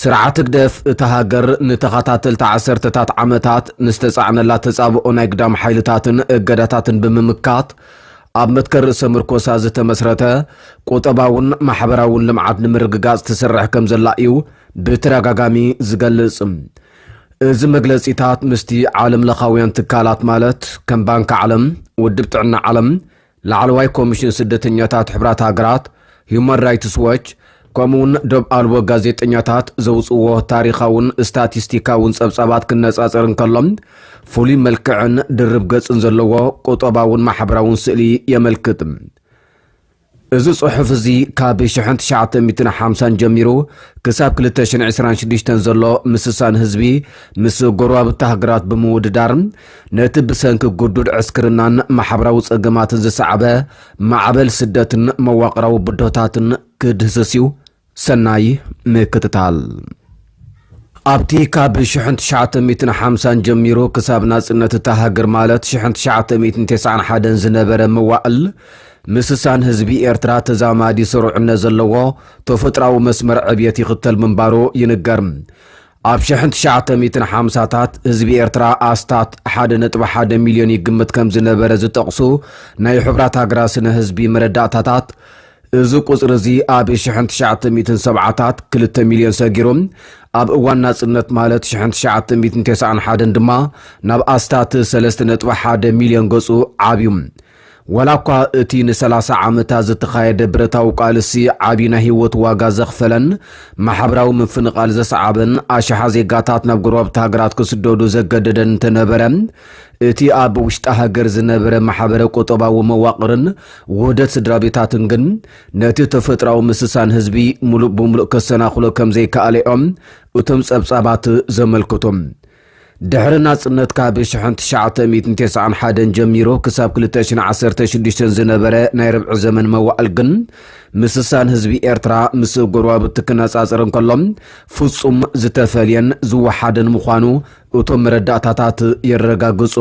ስርዓት ህግደፍ፣ እታ ሃገር ንተኸታተልቲ ዓሰርተታት ዓመታት ንዝተጻዕነላ ተጻብኦ ናይ ግዳም ሓይልታትን እገዳታትን ብምምካት፣ ኣብ መትከል ርእሰ-ምርኮሳ ዝተመስረተ ቁጠባውን ማሕበራውን ልምዓት ንምርግጋጽ ትሰርሕ ከምዘላ እዩ ብተደጋጋሚ ዝገልጽ። እዚ መግለጺታት ምስቲ ዓለምለኻውያን ትካላት ማለት ከም ባንኪ ዓለም፣ ውድብ ጥዕና ዓለም፣ ላዕለዋይ ኮሚሽን ስደተኛታት ሕብራት ሃገራት፣ ሁማን ራይትስ ዎች ከምኡ'ውን ዶብ ኣልቦ ጋዜጠኛታት ዘውጽእዎ ታሪኻውን ስታቲስቲካውን ጸብጻባት ክነጻጸር እንከሎ ፍሉይ መልክዕን ድርብ ገጽን ዘለዎ ቁጠባውን ማሕበራውን ስእሊ የመልክት። እዚ ጽሑፍ እዚ ካብ ሽሕን ትሽዓተ ሚእትን ሓምሳን ጀሚሩ ክሳብ ክልተ ሽሕን ዕስራን ሽዱሽተን ዘሎ ምስሳን ህዝቢ ምስ ጎረባብቲ ሃገራት ብምውድዳር ነቲ ብሰንኪ ግዱድ ዕስክርናን ማሕበራዊ ጸገማትን ዝሰዓበ ማዕበል ስደትን መዋቕራዊ ብድሆታትን ክድህስስ እዩ። ሰናይ ምክትታል። ኣብቲ ካብ ሽሕን ትሽዓተ ሚእትን ሓምሳን ጀሚሩ ክሳብ ናጽነት እታ ሃገር ማለት ሽሕን ትሽዓተ ሚእትን ቴስዓን ሓደን ዝነበረ መዋእል ምስሳን ህዝቢ ኤርትራ ተዛማዲ ስሩዕነት ዘለዎ ተፈጥሮኣዊ መስመር ዕብየት ይኽተል ምንባሩ ይንገር። ኣብ ሽሕን ትሽዓተ ሚእትን ሓምሳታት ህዝቢ ኤርትራ ኣስታት ሓደ ነጥቢ ሓደ ሚልዮን ይግምት ከም ዝነበረ ዝጠቕሱ ናይ ሕቡራት ሃገራት ስነ ህዝቢ መረዳእታታት፣ እዚ ቁጽሪ እዚ ኣብ ሽሕን ትሽዓተ ሚእትን ሰብዓታት ክልተ ሚልዮን ሰጊሩ፣ ኣብ እዋን ናጽነት ማለት ሽሕን ትሽዓተ ሚእትን ተስዓን ሓደን ድማ ናብ ኣስታት ሰለስተ ነጥቢ ሓደ ሚልዮን ገጹ ዓብዩ። ዋላ እኳ እቲ ንሰላሳ ዓመታት ዝተኻየደ ብረታዊ ቃልሲ ዓብዪ ናይ ህይወት ዋጋ ዘኽፈለን ማሕበራዊ ምፍንቓል ዘስዓበን ኣሽሓ ዜጋታት ናብ ጎረባብቲ ሃገራት ክስደዱ ዘገደደን እንተነበረ እቲ ኣብ ውሽጢ ሃገር ዝነበረ ማሕበረ ቁጠባዊ መዋቕርን ውህደት ስድራቤታትን ግን ነቲ ተፈጥራዊ ምስሳን ህዝቢ ሙሉእ ብሙሉእ ከሰናኽሎ ከምዘይከኣለ እዮም እቶም ጸብጻባት ዘመልክቱ። ድሕሪ ናጽነት ካብ ሽሕን ትሽዓተ ሚእትን ቴስዓን ሓደን ጀሚሩ ክሳብ ክልተ ሽን ዓሰርተ ሽዱሽተን ዝነበረ ናይ ርብዒ ዘመን መዋእል ግን ምስሳን ህዝቢ ኤርትራ ምስ ጎረባብቲ ክነጻጸር እንከሎ ፍጹም ዝተፈልየን ዝወሓደን ምዃኑ እቶም መረዳእታታት የረጋግጹ።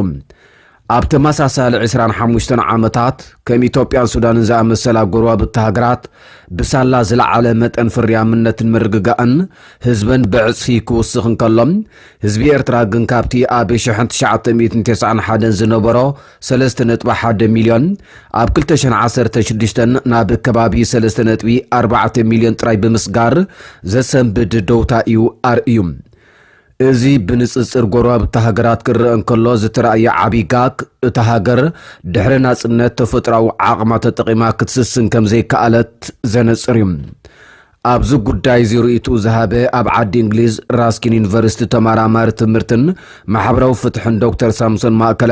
ኣብ ተመሳሳሊ ዕስራን ሓሙሽተን ዓመታት፣ ከም ኢትዮጵያን ሱዳንን ዝኣመሰላ ጎረባብቲ ሃገራት ብሳላ ዝለዓለ መጠን ፍርያምነትን ምርግጋእን ህዝበን ብዕጽፊ ክውስኽ እንከሎ፣ ህዝቢ ኤርትራ ግን ካብቲ ኣብ ሽሕን ትሽዓተ ሚእትን ተስዓን ሓደን ዝነበሮ ሰለስተ ነጥቢ ሓደ ሚልዮን፣ ኣብ ክልተ ሽሕን ዓሰርተ ሽዱሽተን ናብ ከባቢ ሰለስተ ነጥቢ ኣርባዕተ ሚልዮን ጥራይ ብምስጋር ዘሰንብድ ደውታ እዩ ኣርእዩ። እዚ ብንጽጽር ጎረባብቲ ሃገራት ክረኣ እንከሎ ዝተራእየ ዓቢ ጋግ፣ እታ ሃገር ድሕሪ ናጽነት ተፈጥሮኣዊ ዓቕማ ተጠቒማ ክትስስን ከም ዘይከኣለት ዘነጽር እዩ። ኣብዚ ጉዳይ እዚ ርእይትኡ ዝሃበ ኣብ ዓዲ እንግሊዝ ራስኪን ዩኒቨርሲቲ ተማራማሪ ትምህርትን ማሕበራዊ ፍትሕን ዶክተር ሳምሶን ማእከለ፣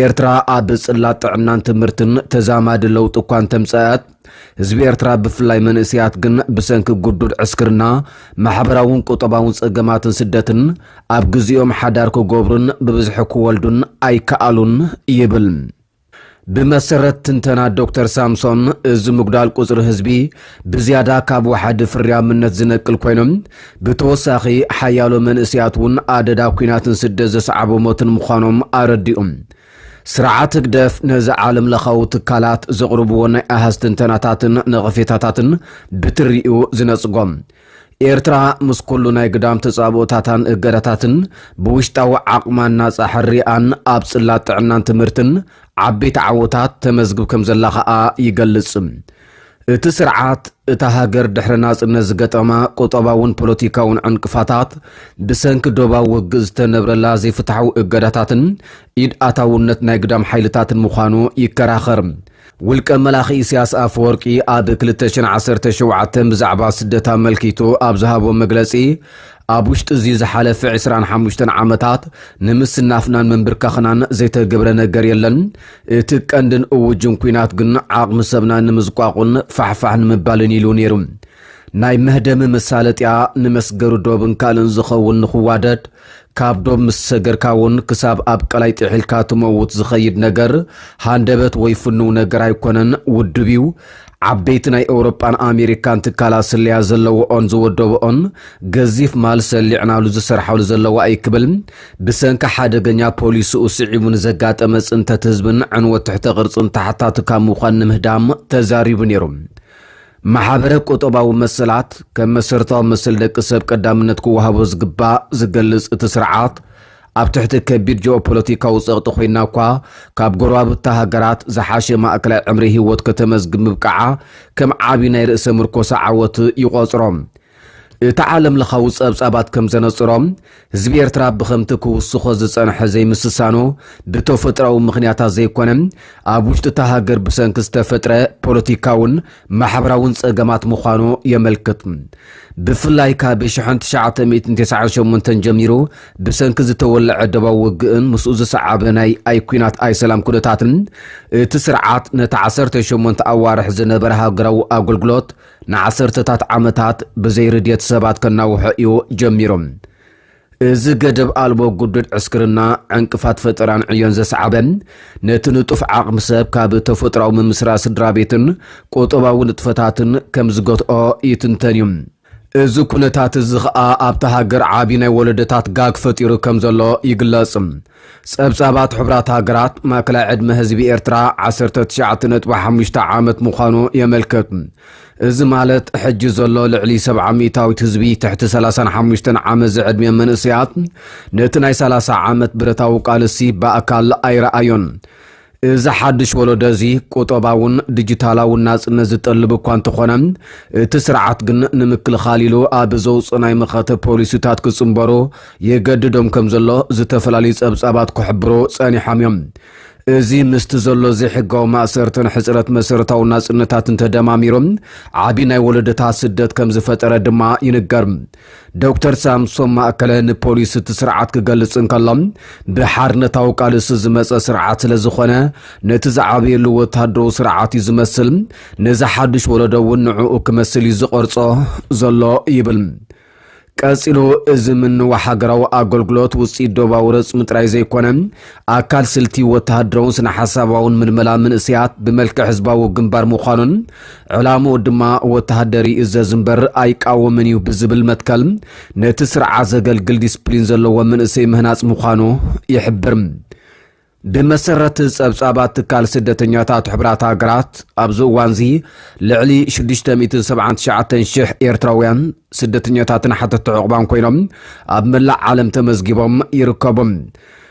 ኤርትራ ኣብ ጽላት ጥዕናን ትምህርትን ተዛማዲ ለውጢ እኳ እንተምጸኣት፣ ህዝቢ ኤርትራ ብፍላይ መንእስያት ግን ብሰንኪ ጉዱድ ዕስክርና፣ ማሕበራውን ቁጠባውን ጸገማትን ስደትን ኣብ ግዜኦም ሓዳር ክገብሩን ብብዝሒ ክወልዱን ኣይከኣሉን ይብል። ብመሰረት ትንተና ዶክተር ሳምሶን እዚ ምጉዳል ቁጽሪ ህዝቢ ብዝያዳ ካብ ወሓዲ ፍርያምነት ዝነቅል ኮይኑ ብተወሳኺ ሓያሎ መንእስያት እውን ኣደዳ ኲናትን ስደት ዘስዓቦ ሞትን ምዃኖም ኣረዲኡ። ስርዓት ህግደፍ ነዚ ዓለምለኻዊ ትካላት ዘቕርብዎ ናይ ኣሃዝ ትንተናታትን ነቐፌታታትን ብትሪኡ ዝነጽጎ፣ ኤርትራ ምስ ኩሉ ናይ ግዳም ተጻብኦታታን እገዳታትን ብውሽጣዊ ዓቕማን ናጻ ሕርያኣን ኣብ ጽላት ጥዕናን ትምህርትን ዓበይቲ ዓወታት ተመዝግብ ከምዘላ ከኣ ይገልጽ። እቲ ስርዓት እታ ሃገር ድሕሪ ናጽነት ዝገጠማ ቁጠባውን ፖለቲካውን ዕንቅፋታት ብሰንኪ ዶባዊ ውግእ ዝተነብረላ ዘይፍትሓዊ እገዳታትን ኢድ ኣታውነት ናይ ግዳም ሓይልታትን ምዃኑ ይከራኸር። ውልቀ መላኺ ኢሳያስ ኣፈወርቂ ኣብ 2017 ብዛዕባ ስደት ኣመልኪቱ ኣብ ዝሃቦ መግለጺ ኣብ ውሽጢ እዚ ዝሓለፈ ዕስራን ሓሙሽተን ዓመታት ንምስናፍናን ምንብርካኽናን ዘይተገብረ ነገር የለን። እቲ ቀንድን እውጅን ኩናት ግን ዓቕሚ ሰብና ንምዝቋቑን ፋሕፋሕ ንምባልን ኢሉ ነይሩ። ናይ መህደሚ መሳለጥያ ንመስገሪ ዶብን ካልእን ዝኸውን ንኽዋደድ ካብ ዶብ ምስ ሰገርካ እውን ክሳብ ኣብ ቀላይ ጥሒልካ ትመውት ዝኸይድ ነገር ሃንደበት ወይ ፍኑው ነገር ኣይኮነን፣ ውዱብ እዩ። ዓበይቲ ናይ ኤውሮጳን ኣሜሪካን ትካላት ስለያ ዘለዎኦን ዝወደበኦን ገዚፍ ማል ሰሊዕናሉ ዝሰርሓሉ ዘለዋ እዩ ክብል ብሰንኪ ሓደገኛ ፖሊስኡ ስዒቡ ንዘጋጠመ ጽንተት ህዝብን ዕንወት ትሕተ ቅርጽን ተሓታቲ ካብ ምዃን ንምህዳም ተዛሪቡ ነይሩ። ማሕበረ ቁጠባዊ መሰላት ከም መሰረታዊ መሰል ደቂ ሰብ ቀዳምነት ክወሃቦ ዝግባእ ዝገልጽ እቲ ስርዓት ኣብ ትሕቲ ከቢድ ጂኦፖለቲካዊ ጸቕጢ ኮይና እኳ ካብ ጎረባብታ ሃገራት ዝሓሸ ማእከላይ ዕምሪ ህይወት ከተመዝግብ ምብቃዓ ከም ዓቢ ናይ ርእሰ ምርኮሳ ዓወት ይቖጽሮ። እቲ ዓለምለኻዊ ጸብጻባት ከም ዘነጽሮ፣ ህዝቢ ኤርትራ ብኸምቲ ክውስኾ ዝጸንሐ ዘይምስሳኑ ብተፈጥሮኣዊ ምኽንያታት ዘይኮነ፣ ኣብ ውሽጢ'ታ ሃገር ብሰንኪ ዝተፈጥረ ፖለቲካውን ማሕበራውን ጸገማት ምዃኑ የመልክት። ብፍላይ ካብ ሽሕን ትሽዓተ ሚእትን ተሰዓን ሸሞንተን ጀሚሩ ብሰንኪ ዝተወለዐ ደባዊ ውግእን ምስኡ ዝሰዓበ ናይ ኣይ ኩናት ኣይ ሰላም ኩነታትን እቲ ስርዓት ነቲ ዓሰርተ ሸሞንተ ኣዋርሕ ዝነበረ ሃገራዊ ኣገልግሎት ንዓሰርተታት ዓመታት ብዘይ ርድየት ሰባት ከናውሖ እዩ ጀሚሩ። እዚ ገደብ ኣልቦ ግዱድ ዕስክርና፣ ዕንቅፋት ፈጠራን ዕዮን ዘስዓበ፣ ነቲ ንጡፍ ዓቕሚ ሰብ ካብ ተፈጥሮኣዊ ምምስራት ስድራቤትን ቁጠባዊ ንጥፈታትን ከም ዝገትኦ ይትንተን እዩ። እዚ ኵነታት እዚ ኸኣ ኣብታ ሃገር ዓቢ ናይ ወለዶታት ጋግ ፈጢሩ ከም ዘሎ ይግለጽ። ጸብጻባት ሕቡራት ሃገራት፣ ማእከላይ ዕድመ ህዝቢ ኤርትራ ዓሰርተ ትሽዓተ ነጥቢ ሓሙሽተ ዓመት ምዃኑ የመልክት። እዚ ማለት ሕጂ ዘሎ ልዕሊ ሰብዓ ሚእታዊት ህዝቢ ትሕቲ ሰላሳን ሓሙሽተን ዓመት ዝዕድሚኦም መንእሰያት ነቲ ናይ ሰላሳ ዓመት ብረታዊ ቃልሲ ብኣካል ኣይረኣዮን። እዚ ሓድሽ ወለዶ እዚ ቁጠባውን ዲጂታላውን ናጽነት ዝጠልብ እኳ እንተኾነ እቲ ስርዓት ግን ንምክልኻል ኢሉ ኣብ ዘውጽእ ናይ መኸተ ፖሊሲታት ክጽንበሩ የገድዶም ከም ዘሎ ዝተፈላለዩ ጸብጻባት ክሕብሩ ጸኒሖም እዮም። እዚ ምስቲ ዘሎ ዘይሕጋዊ ማእሰርትን ሕጽረት መሰረታዊ ናጽነታትን ተደማሚሩ ዓቢ ናይ ወለዶታት ስደት ከም ዝፈጠረ ድማ ይንገር። ዶክተር ሳምሶም ማእከለ ንፖሊስ እቲ ስርዓት ክገልጽ እንከሎ ብሓርነታዊ ቃልሲ ዝመጸ ስርዓት ስለ ዝኾነ ነቲ ዝዓበየሉ ወተሃደራዊ ስርዓት እዩ ዝመስል ነዚ ሓድሽ ወለዶ እውን ንዕኡ ክመስል እዩ ዝቐርጾ ዘሎ ይብል ቀጺሉ እዚ ምንዋሕ ሃገራዊ ኣገልግሎት ውጽኢት ዶባዊ ረጽሚ ጥራይ ዘይኮነ ኣካል ስልቲ ወተሃደራውን ስነ ሓሳባውን ምልመላ ምንእስያት ብመልክዕ ህዝባዊ ግንባር ምዃኑን ዕላምኡ ድማ ወተሃደር ይእዘዝ እምበር ኣይቃወምን እዩ ብዝብል መትከል ነቲ ስርዓ ዘገልግል ዲስፕሊን ዘለዎ መንእሰይ ምህናጽ ምዃኑ ይሕብር። ብመሰረት ጸብጻባት ትካል ስደተኛታት ሕቡራት ሃገራት ኣብዚ እዋንዚ ልዕሊ 679,000 ኤርትራውያን ስደተኛታትን ሓተቲ ዑቕባን ኮይኖም ኣብ መላእ ዓለም ተመዝጊቦም ይርከቡ።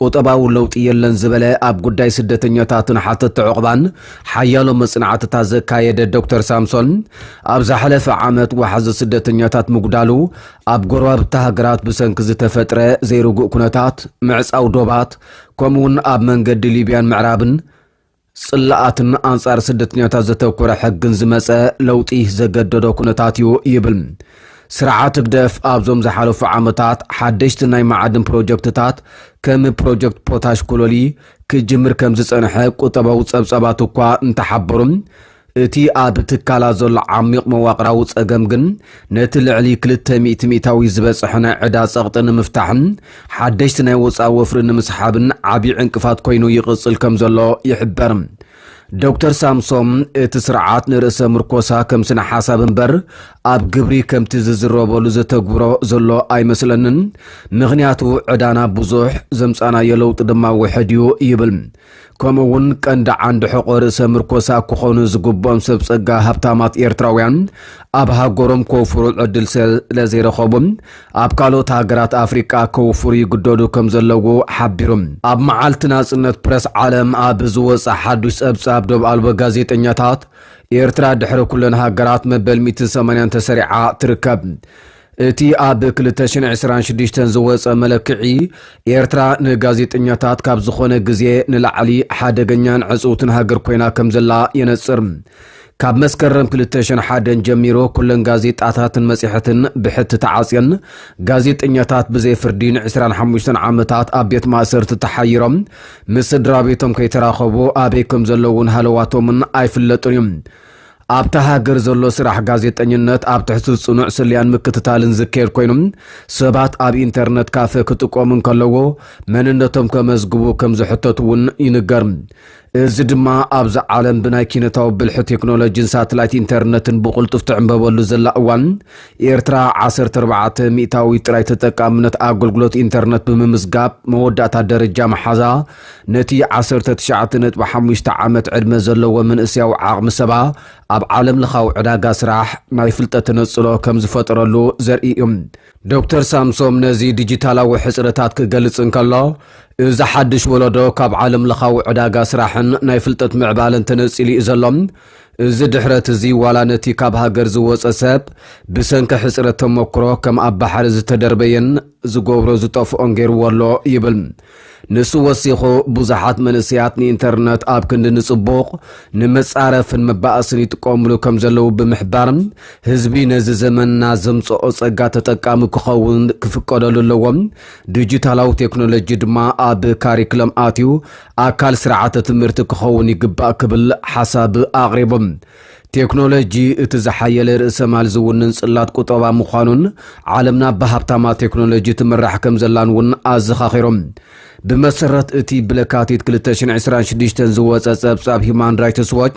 ቁጠባዊ ለውጢ የለን ዝበለ ኣብ ጉዳይ ስደተኛታትን ሓተቲ ዑቕባን ሓያሎ መጽናዕትታት ዘካየደ ዶክተር ሳምሶን፣ ኣብ ዝሓለፈ ዓመት ዋሕዚ ስደተኛታት ምጉዳሉ ኣብ ጎረባብቲ ሃገራት ብሰንኪ ዝተፈጥረ ዘይርጉእ ኩነታት፣ ምዕጻው ዶባት፣ ከምኡ'ውን ኣብ መንገዲ ሊብያን ምዕራብን፣ ጽላኣትን ኣንጻር ስደተኛታት ዘተኮረ ሕግን ዝመጸ ለውጢ ዘገደዶ ኩነታት እዩ ይብል። ስርዓት ህግደፍ ኣብዞም ዝሓለፉ ዓመታት ሓደሽቲ ናይ መዓድን ፕሮጀክትታት ከም ፕሮጀክት ፖታሽ ኮሎሊ ክጅምር ከም ዝጸንሐ ቁጠባዊ ጸብጻባት እኳ እንተሓበሩም እቲ ኣብ ትካላት ዘሎ ዓሚቕ መዋቕራዊ ጸገም ግን ነቲ ልዕሊ ክልተ ሚእቲ ሚእታዊ ዝበጽሐ ናይ ዕዳ ጸቕጢ ንምፍታሕን ሓደሽቲ ናይ ወጻኢ ወፍሪ ንምስሓብን ዓብዪ ዕንቅፋት ኮይኑ ይቕጽል ከም ዘሎ ይሕበር። ዶክተር ሳምሶም እቲ ስርዓት ንርእሰ ምርኮሳ ከም ስነ ሓሳብ እምበር ኣብ ግብሪ ከምቲ ዝዝረበሉ ዘተግብሮ ዘሎ ኣይመስለንን። ምኽንያቱ ዕዳና ብዙሕ፣ ዘምጻእናዮ ለውጢ ድማ ውሕድ እዩ ይብል ከምኡ እውን ቀንዲ ዓንዲ ሕቆ ርእሰ ምርኮሳ ክኾኑ ዝግብኦም ሰብ ጸጋ ሃብታማት ኤርትራውያን ኣብ ሃገሮም ከውፍሩ ዕድል ስለዘይረኸቡ ኣብ ካልኦት ሃገራት ኣፍሪቃ ከውፍሩ ይግደዱ ከም ዘለዉ ሓቢሩ። ኣብ መዓልቲ ናጽነት ፕረስ ዓለም ኣብ ዝወጸ ሓዱሽ ጸብጻብ ዶብ ኣልቦ ጋዜጠኛታት፣ ኤርትራ ድሕሪ ኩለን ሃገራት መበል ሚእትን ሰማንያን ተሰሪዓ ትርከብ። እቲ ኣብ ክልተ ሽሕን ዕስራን ሽዱሽተን ዝወጸ መለክዒ፣ ኤርትራ ንጋዜጠኛታት ካብ ዝኾነ ግዜ ንላዕሊ ሓደገኛን ዕጽውትን ሃገር ኮይና ከምዘላ የነጽር። ካብ መስከረም ክልተ ሽሕን ሓደን ጀሚሩ ኩለን ጋዜጣታትን መጽሔሕትን ብሕቲ ተዓጽየን፣ ጋዜጠኛታት ብዘይ ፍርዲ ንዕስራን ሓሙሽተን ዓመታት ኣብ ቤት ማእሰርቲ ተሓይሮም ምስ ስድራቤቶም ከይተራኸቡ ኣበይ ከምዘለዉን ሃለዋቶምን ኣይፍለጥን እዩ። ኣብታ ሃገር ዘሎ ስራሕ ጋዜጠኝነት ኣብ ትሕቲ ጽኑዕ ስለያን ምክትታልን ዝካየድ ኮይኑ፣ ሰባት ኣብ ኢንተርነት ካፈ ክጥቀሙ እንከለዎ መንነቶም ከመዝግቡ ከም ዝሕተቱ እውን ይንገር። እዚ ድማ ኣብዛ ዓለም ብናይ ኪነታዊ ብልሒ ቴክኖሎጂን ሳትላይት ኢንተርነትን ብቕልጡፍ ትዕምበበሉ ዘላ እዋን ኤርትራ ዓሰርተ ኣርባዕተ ሚእታዊት ጥራይ ተጠቃምነት ኣገልግሎት ኢንተርነት ብምምዝጋብ መወዳእታ ደረጃ ምሓዛ ነቲ ዓሰርተ ትሽዓተ ነጥቢ ሓሙሽተ ዓመት ዕድመ ዘለዎ መንእሰያዊ ዓቕሚ ሰባ ኣብ ዓለምለኻዊ ዕዳጋ ስራሕ ናይ ፍልጠት ተነጽሎ ከም ዝፈጠረሉ ዘርኢ እዩ። ዶክተር ሳምሶም ነዚ ዲጂታላዊ ሕጽረታት ክገልጽ እንከሎ፣ እዚ ሓድሽ ወለዶ ካብ ዓለምለኻዊ ዕዳጋ ስራሕን ናይ ፍልጠት ምዕባለን ተነጺሉ እዩ ዘሎ። እዚ ድሕረት እዚ ዋላ ነቲ ካብ ሃገር ዝወጸ ሰብ ብሰንኪ ሕጽረት ተመኩሮ ከም ኣብ ባሕሪ ዝተደርበየን ዝገብሮ ዝጠፍኦን ገይርዎ ኣሎ ይብል። ንሱ ወሲኹ፣ ብዙሓት መንእሰያት ንኢንተርነት ኣብ ክንዲ ንጽቡቕ፣ ንመጻረፍን መባኣስን ይጥቀምሉ ከም ዘለዉ ብምሕባር፣ ህዝቢ ነዚ ዘመንና ዘምጸኦ ጸጋ ተጠቃሚ ክኸውን ክፍቀደሉ ኣለዎ፣ ዲጂታላዊ ቴክኖሎጂ ድማ ኣብ ካሪክለም ኣትዩ ኣካል ስርዓተ ትምህርቲ ክኸውን ይግባእ ክብል ሓሳብ ኣቕሪቡ። ቴክኖሎጂ እቲ ዝሓየለ ርእሰማል ዝውንን ጽላት ቁጠባ ምዃኑን ዓለምና ብሃብታማ ቴክኖሎጂ ትምራሕ ከም ዘላን እውን ኣዘኻኺሮም። ብመሰረት እቲ ብለካቲት ክልተ ሽሕን ዕስራን ሽዱሽተን ዝወጸ ጸብጻብ ሂዩማን ራይትስ ዎች፣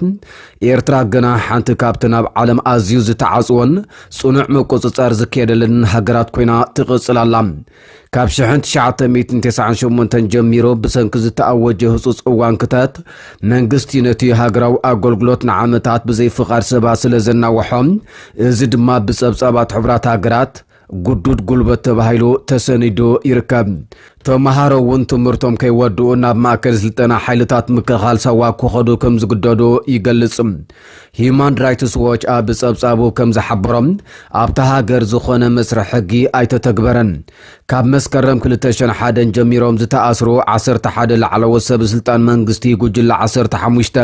ኤርትራ ገና ሓንቲ ካብተን ኣብ ዓለም ኣዝዩ ዝተዓጽወን ጽኑዕ ምቁጽጻር ዝካየደለንን ሃገራት ኮይና ትቕጽል ኣላ። ካብ ሽሕን ትሽዓተ ሚእትን ተስዓን ሸሞንተን ጀሚሩ ብሰንኪ ዝተኣወጀ ህጹጽ እዋን ክተት መንግስቲ ነቲ ሃገራዊ ኣገልግሎት ንዓመታት ብዘይ ፍቓድ ሰባት ስለ ዘናውሖ እዚ ድማ ብጸብጻባት ሕቡራት ሃገራት ጉዱድ ጉልበት ተባሂሉ ተሰኒዱ ይርከብ ተምሃሮ እውን ትምህርቶም ከይወድኡ ናብ ማእከል ስልጠና ሓይልታት ምክልኻል ሳዋ ክኸዱ ከም ዝግደዱ ይገልጽ ሂዩማን ራይትስ ዎች ኣብ ጸብጻቡ ከም ዝሓበሮ፣ ኣብታ ሃገር ዝኾነ መስርሕ ሕጊ ኣይተተግበረን። ካብ መስከረም ክልተ ሽሕን ሓደን ጀሚሮም ዝተኣስሩ ዓሰርተ ሓደ ላዕለዎት ሰበስልጣን መንግስቲ፣ ጉጅለ ዓሰርተ ሓሙሽተ፣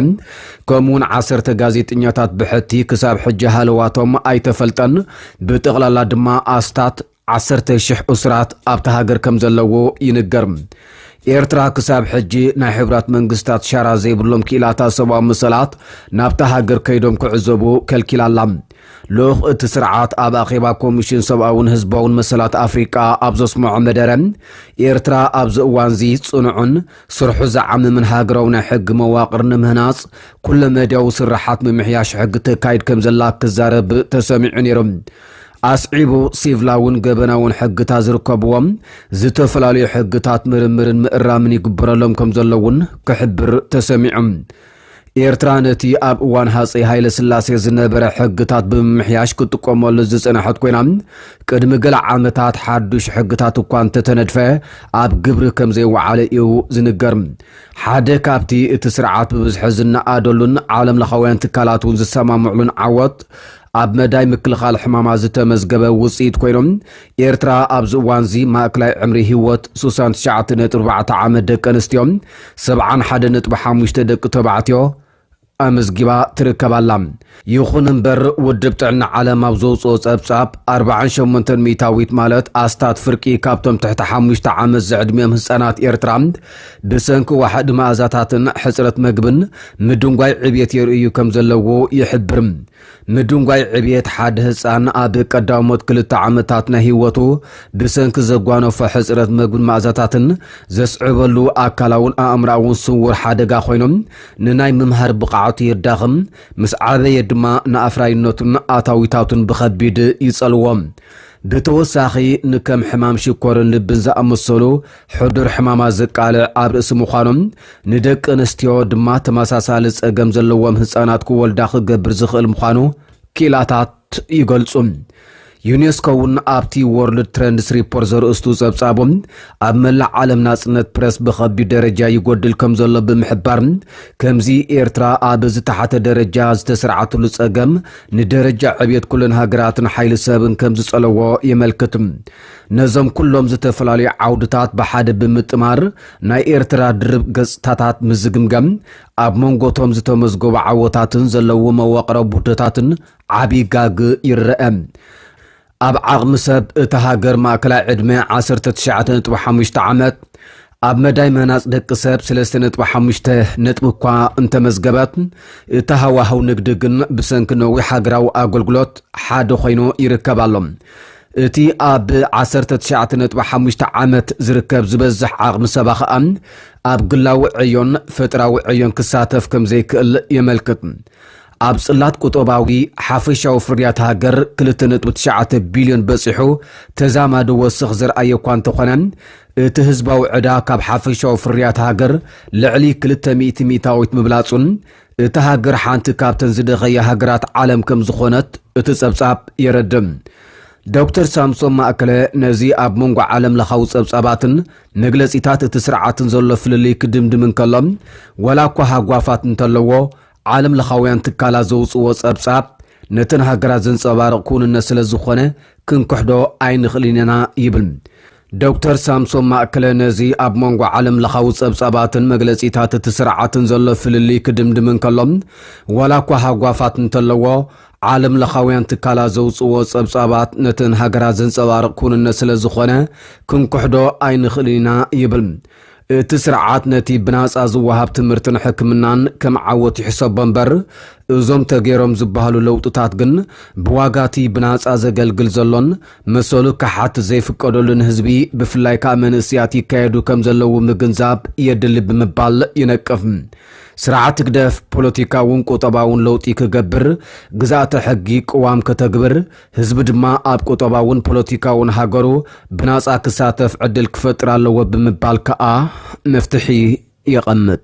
ከምኡ'ውን ዓሰርተ ጋዜጠኛታት ብሕቲ ክሳብ ሕጂ ሃለዋቶም ኣይተፈልጠን። ብጠቕላላ ድማ ኣስታት። ዓሰርተ ሽሕ እሱራት ኣብታ ሃገር ከም ዘለዎ ይንገር። ኤርትራ ክሳብ ሕጂ ናይ ሕቡራት መንግስታት ሻራ ዘይብሎም ክኢላታት ሰብኣዊ መሰላት ናብታ ሃገር ከይዶም ክዕዘቡ ከልኪላ ኣላ። ልኡኽ እቲ ስርዓት ኣብ ኣኼባ ኮሚሽን ሰብኣውን ህዝባውን መሰላት ኣፍሪቃ ኣብ ዘስመዖ መደረ፣ ኤርትራ ኣብዚ እዋንዚ ጽኑዕን ስርሑ ዝዓምምን ሃገራዊ ናይ ሕጊ መዋቕር ንምህናጽ ኩለ መዳያዊ ስርሓት ምምሕያሽ ሕጊ ተካይድ ከም ዘላ ክዛረብ ተሰሚዑ ነይሩ። ኣስዒቡ ሲቭላውን ገበናውን ሕግታት ዝርከብዎም ዝተፈላለዩ ሕግታት ምርምርን ምእራምን ይግበረሎም ከም ዘሎ እውን ክሕብር ተሰሚዑ። ኤርትራ ነቲ ኣብ እዋን ሃፀይ ሃይለ ስላሴ ዝነበረ ሕግታት ብምምሕያሽ ክትጥቀመሉ ዝፀናሐት ኮይና ቅድሚ ገለ ዓመታት ሓዱሽ ሕግታት እኳ እንተተነድፈ ኣብ ግብሪ ከም ዘይወዓለ እዩ ዝንገር። ሓደ ካብቲ እቲ ስርዓት ብብዝሒ ዝነኣደሉን ዓለምለኻውያን ትካላት እውን ዝሰማምዕሉን ዓወት ኣብ መዳይ ምክልኻል ሕማማት ዝተመዝገበ ውፅኢት ኮይኖም ኤርትራ ኣብዚ እዋንዚ ማእክላይ ዕምሪ ህይወት ስሳን ትሽዓተ ነጥቢ ኣርባዕተ ዓመት ደቂ ኣንስትዮ ሰብዓን ሓደ ነጥቢ ሓሙሽተ ደቂ ተባዕትዮ ኣመዝጊባ ትርከብ ኣላ። ይኹን እምበር ውድብ ጥዕና ዓለም ኣብ ዘውፅኦ ፀብፃብ ኣርብዓን ሸሞንተን ሚእታዊት ማለት ኣስታት ፍርቂ ካብቶም ትሕቲ ሓሙሽተ ዓመት ዝዕድሚኦም ህፃናት ኤርትራ ብሰንኪ ዋሕዲ መኣዛታትን ሕጽረት መግብን ምድንጓይ ዕብየት የርእዩ ከም ዘለዎ ይሕብር። ምድንጓይ ዕብየት ሓደ ህጻን ኣብ ቀዳሞት ክልተ ዓመታት ናይ ህይወቱ ብሰንኪ ዘጓነፎ ሕጽረት መግብን መኣዛታትን ዘስዕበሉ ኣካላውን ኣእምሮኣውን ስውር ሓደጋ ኮይኖም ንናይ ምምሃር ብቕዓቱ የዳኽም፣ ምስ ዓበየ ድማ ንኣፍራይነቱን ኣታዊታቱን ብኸቢድ ይጸልዎ። ብተወሳኺ ንከም ሕማም ሽኮርን ልብን ዝኣመሰሉ ሕዱር ሕማማት ዘቃልዕ ኣብ ርእሲ ምዃኑ፣ ንደቂ ኣንስትዮ ድማ ተመሳሳሊ ጸገም ዘለዎም ህጻናት ክወልዳ ክገብር ዝኽእል ምዃኑ ክኢላታት ይገልጹ። ዩኔስኮ እውን ኣብቲ ዎርልድ ትረንድስ ሪፖርት ዘርእስቱ ጸብጻቡ፣ ኣብ መላእ ዓለም ናጽነት ፕረስ ብኸቢድ ደረጃ ይጎድል ከም ዘሎ ብምሕባር፣ ከምዚ ኤርትራ ኣብ ዝተሓተ ደረጃ ዝተስርዓትሉ ጸገም ንደረጃ ዕብየት ኩለን ሃገራትን ሓይሊ ሰብን ከም ዝጸለዎ የመልክት። ነዞም ኩሎም ዝተፈላለዩ ዓውድታት ብሓደ ብምጥማር ናይ ኤርትራ ድርብ ገጽታታት ምስ ዝግምገም ኣብ መንጎቶም ዝተመዝገቡ ዓወታትን ዘለዎ መዋቕራዊ ቡህደታትን ዓቢ ጋግ ይረኣ። ኣብ ዓቕሚ ሰብ እታ ሃገር ማእከላይ ዕድመ ዓሰርተ ትሽዓተ ነጥቢ ሓሙሽተ ዓመት፣ ኣብ መዳይ ምህናጽ ደቂ ሰብ ስለስተ ነጥቢ ሓሙሽተ ነጥቢ እኳ እንተመዝገበት፣ እቲ ሃዋህው ንግዲ ግን ብሰንኪ ነዊሕ ሃገራዊ ኣገልግሎት ሓደ ኮይኑ ይርከብ ኣሎ። እቲ ኣብ ዓሰርተ ትሽዓተ ነጥቢ ሓሙሽተ ዓመት ዝርከብ ዝበዝሕ ዓቕሚ ሰባ ከኣ ኣብ ግላዊ ዕዮን ፈጠራዊ ዕዮን ክሳተፍ ከምዘይክእል የመልክት። ኣብ ጽላት ቁጠባዊ ሓፈሻዊ ፍርያት ሃገር 2.9 ቢልዮን በጺሑ ተዛማዲ ወስኽ ዘርኣየ እኳ እንተኾነ እቲ ህዝባዊ ዕዳ ካብ ሓፈሻዊ ፍርያት ሃገር ልዕሊ 200 ሚእታዊት ምብላጹን እታ ሃገር ሓንቲ ካብተን ዝደኸየ ሃገራት ዓለም ከም ዝኾነት እቲ ጸብጻብ የረድም ዶክተር ሳምሶን ማእከለ ነዚ ኣብ መንጎ ዓለም ለኻዊ ጸብጻባትን መግለጺታት እቲ ስርዓትን ዘሎ ፍልልይ ክድምድም እንከሎ ዋላ እኳ ሃጓፋት እንተለዎ ዓለም ለኻውያን ትካላት ዘውፅዎ ፀብፃብ ነተን ሃገራት ዘንፀባርቕ ክውንነት ስለ ዝኾነ ክንክሕዶ ኣይንኽእልን ኢና ይብል ዶክተር ሳምሶም ማእከለ ነዚ ኣብ መንጎ ዓለም ለኻዊ ፀብፃባትን መግለፂታት እቲ ስርዓትን ዘሎ ፍልልይ ክድምድም እንከሎ ዋላ እኳ ሃጓፋት እንተለዎ ዓለም ለኻውያን ትካላት ዘውፅዎ ፀብፃባት ነተን ሃገራት ዘንፀባርቕ ክውንነት ስለ ዝኾነ ክንክሕዶ ኣይንኽእልን ኢና ይብል እቲ ስርዓት ነቲ ብናጻ ዝወሃብ ትምህርትን ሕክምናን ከም ዓወት ይሕሰቦ እምበር፣ እዞም ተገይሮም ዝበሃሉ ለውጥታት ግን ብዋጋ'ቲ ብናጻ ዘገልግል ዘሎን መሰሉ ክሓት ዘይፍቀደሉን ህዝቢ ብፍላይ ከኣ መንእስያት ይካየዱ ከም ዘለዉ ምግንዛብ የድሊ ብምባል ይነቅፍ። ስርዓት ህግደፍ ፖለቲካውን ቁጠባውን ለውጢ ክገብር፣ ግዝኣተ ሕጊ ቅዋም ከተግብር፣ ህዝቢ ድማ ኣብ ቁጠባውን ፖለቲካውን ሃገሩ ብናጻ ክሳተፍ ዕድል ክፈጥር ኣለዎ ብምባል ከኣ መፍትሒ የቐምጥ።